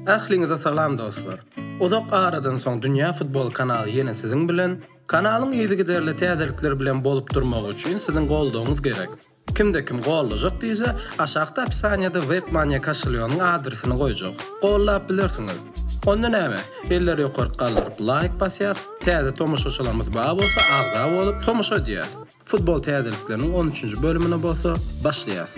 Ähliňize salam dostlar! Uzak aradan soň Dünýä Futbol kanaly ýene siziň bilen. Kanalyň yzygiderli täzelikler bilen bolup durmagy üçin siziň goldawyňyz gerek. Kimde kim gollajak diýse, aşakda opisaniýada Webmania kaşelýonyň adresini goýjak. Gollap bilersiňiz. Onda näme? Elleri ýokaryk galdyryp laýk basýas, täze tomaşaçylarymyz bar bolsa agza bolup tomaşa edýäs. Futbol täzelikleriniň on üçünji bölümine bolsa başlaýas.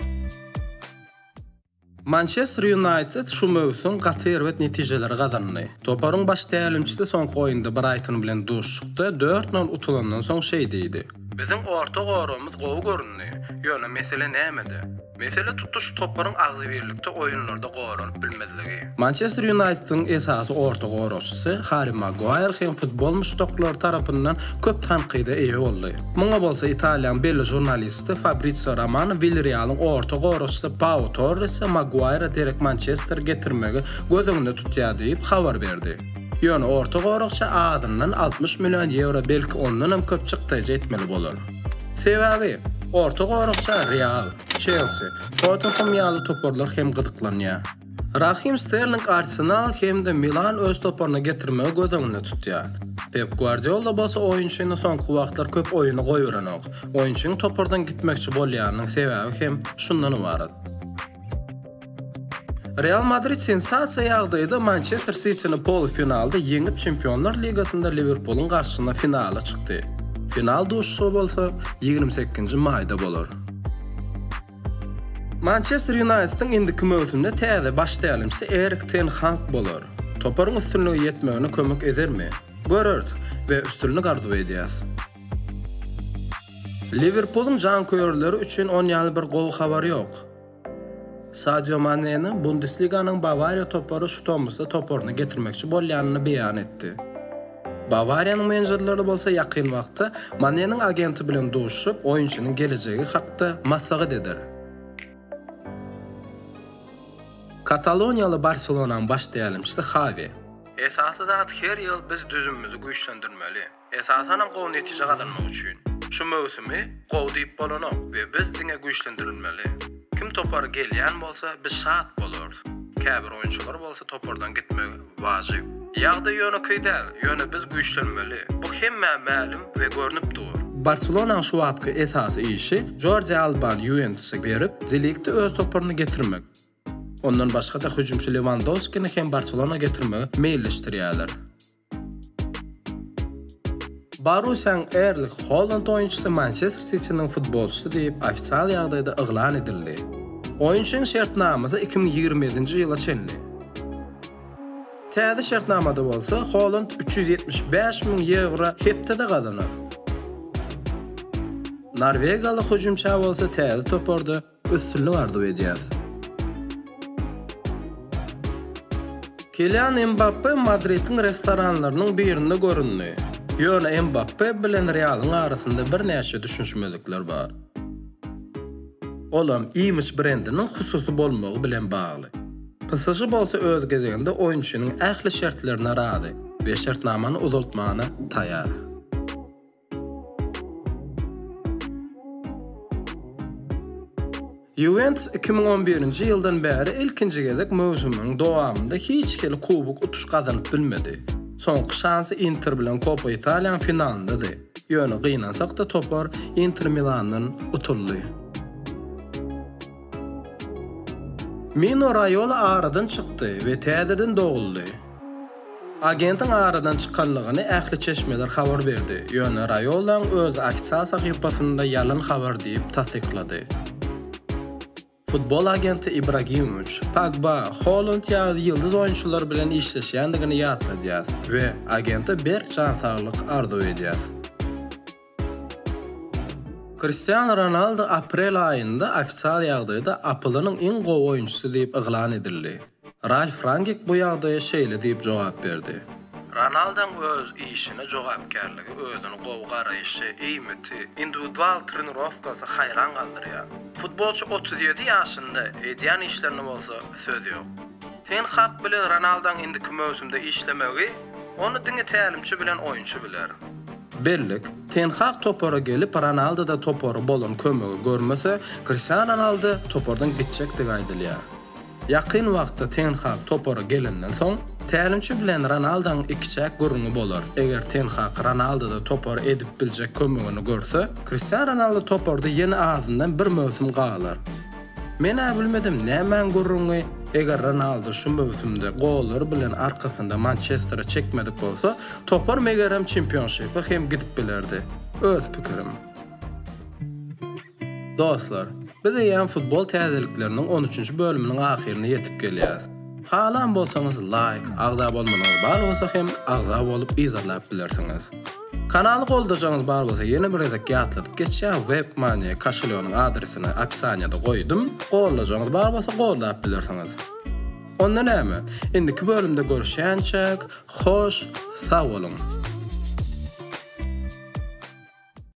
Mançester Ýunaýted şu möwsüm gaty erbet netijeleri gazandy. Toparyň baş tälimçisi soňky oýunda Braýton bilen duşuşykda dört nol utulandan soň şeý diýdi. Biziň orta goragymyz gowy göründi, ýöne mesele nämede? Mesele tutuş toparyň agzybirlikde oýunlarda goranyp bilmezligi. Mançester Ýunaýtediň esasy orta goragçysy Harri Maguaýr hem futbol muşdaklary tarapyndan köp tankyda eýe boldy. Muňa bolsa Italiýanyň belli žurnalisti Fabrisio Romano Wilrealyň orta goragçysy Pau Torresi Maguaýra derek Mançestere getirmegi göz öňünde tutýar diýip habar berdi. Ýöne orta goragça azyndan altmyş million ýewro belki ondanam köp çykdaýjy etmeli bolar. Sebäbi, orta goragça Real, Çelsi, Tottenhem ýaly toparlar hem gyzyklanýar. Rahim Sterling Arsenal hem-de Milan öz toparyna getirmegi göz öňünde tutýar. Pep Gwardiola bolsa oýunçyny soňky wagtlar köp oýuna goýberenok. Oýunçynyň topardan gitmekçi bolýanynyň sebäbi hem şundan ybarat. Real Madrid sensasiýa ýagdaýda Mançester Sitini polufinalda ýeňip, Çempionlar ligasynda Liwerpulyň garşysyna finala çykdy. Final duşuşygy bolsa ýigrimi sekizinji maýda bolar. Mançester Ýunaýtediň indiki möwsümde täze baş tälimçisi Erik ten Hag bolar. Toparyň üstünlige ýetmegine kömek edermi? Göreris we üstünlik arzuw edýäs. Liwerpulyň janköýerleri üçin on ýaly bir gowy habar ýok. Sadio Maneniň Bundesliganyň Bawariýa topary şu tomusda toparyna getirmekçi bolýanyny beýan etdi. Bawariýanyň menejerleri bolsa ýakyn wagtda Maneniň agenti bilen duşuşyp, oýunçynyň gelejegi hakda maslahat eder. Kataloniýaly Barselonanyň baş tälimçisi Hawi. Esasy zat her ýyl biz düzümimizi güýçlendirmeli. Esasanam gowy netije gazanmak üçin. Şu möwsümi gowy diýip bolanok we biz diňe güýçlendirilmeli. Kim topary gelýän bolsa, biz şat bolarys. Käbir oýunçylar bolsa topardan gitmegi Wajyp. Ýagdaý ýönekeý däl, ýöne biz güýçlenmeli. Bu hemmä mälim we görnüp dur. Barselonanyň şu wagtky esasy işi Jordi Albany Ýuwentusa berip, De Ligti öz toparyna getirmek. Ondan başga-da hüjümçi Lewandowskini hem Barselona getirmegi meýilleşdirýärler. Borussiýanyň Erling Holand oýunçysy Mançester Sitiniň futbolçysy diýip, ofisial ýagdaýda yglan edildi. Oýunçynyň şertnamasy iki müň ýigrimi ýedinji ýyla çenli. Täze şertnamada bolsa Holand üç ýüz ýetmiş bäş müň ýewro hepdede gazanar. Norwegiýaly hüjümçä bolsa täze toparda üstünlik arzuw edýäs. Kilian Mbappe Madridiň restoranlarynyň birinde göründi. Ýöne Mbappe bilen Realyň arasynda birnäçe düşünişmezlikler bar. Olam Image brendiniň hususy bolmagy bilen bagly. PSŽ bolsa öz gezeginde oýunçynyň ähli şertlerine razy we şertnamany uzaltmana taýar. Ýuwentus iki müň on birinji ýyldan bäri ilkinji gezek möwsümiň dowamynda hiç hili kubok utuş gazanyp bilmedi. Soňky şansy Inter bilen Kopa Italiýanyň finalyndydy, ýöne gynansak-da topar Inter Milandan utuldy. Mino Raýola aradan çykdy we täzeden doguldy. Agentiň aradan çykandygyny ähli çeşmeler habar berdi, ýöne Raýolaň özi ofisial sahypasynda ýalan habar diýip tassyklady. Futbol agenti Ibragimowiç, Pogba, Holand ýaly ýyldyz oýunçylar bilen işleşýändigini ýatladýar we agente berk jan saglyk arzuw edýär. Kriştianu Ronaldu aprel aýynda ofisial ýagdaýda APL-niň iň gowy oýunçysy diýip yglan edildi. Ralf Rangik bu ýagdaýa şeýle diýip jogap berdi. Ronalduň öz işine jogapkärligi, özüne gowy garaýşy, eýmiti, indiwidual trenirowkasy haýran galdyrýar. Futbolçy otuz ýedi ýaşynda, edýän işlerine bolsa söz ýok. Ten Hag bilen Ronalduň indiki möwsümde işlemegi, ony diňe tälimçi bilen oýunçy biler. Bellik, Ten Hag topara gelip, Ronaldoda topara bolan kömegi görmese, Kriştianu Ronaldo topardan gitjekdigi aýdylýar. Ýakyn wagtda Ten Hag topara gelenden soň, tälimçi bilen Ronaldoň ikiçäk gürrüňi bolar. Eger Ten Hag Ronaldoda topara edip biljek kömegini görse, Kriştianu Ronaldo toparda ýene azyndan bir möwsüm galar. Men-ä bilmedim nämäň gürrüňi, eger Ronaldu şu möwsümde gollary bilen arkasynda Mançestere çekmedik bolsa, topar megerem çempionşipe hem gidip bilerdi. Öz pikirim. Dostlar, biz eýýäm futbol täzelikleriniň on üçünji bölüminiň ahyryna ýetip gelýäs. Halan bolsaňyz laýk, agza bolmanyňyz bar bolsa hem agza bolup yzarlap bilersiňiz. Kanaly goldajaňyz bar bolsa ýene bir gezek ýatladyp geçýän Webmania koşelýogynyň adresini opisaniýada goýdum. Goldajaňyz bar bolsa goldap bilersiňiz. Onda näme, indiki bölümde görüşýänçäk, hoş sag boluň!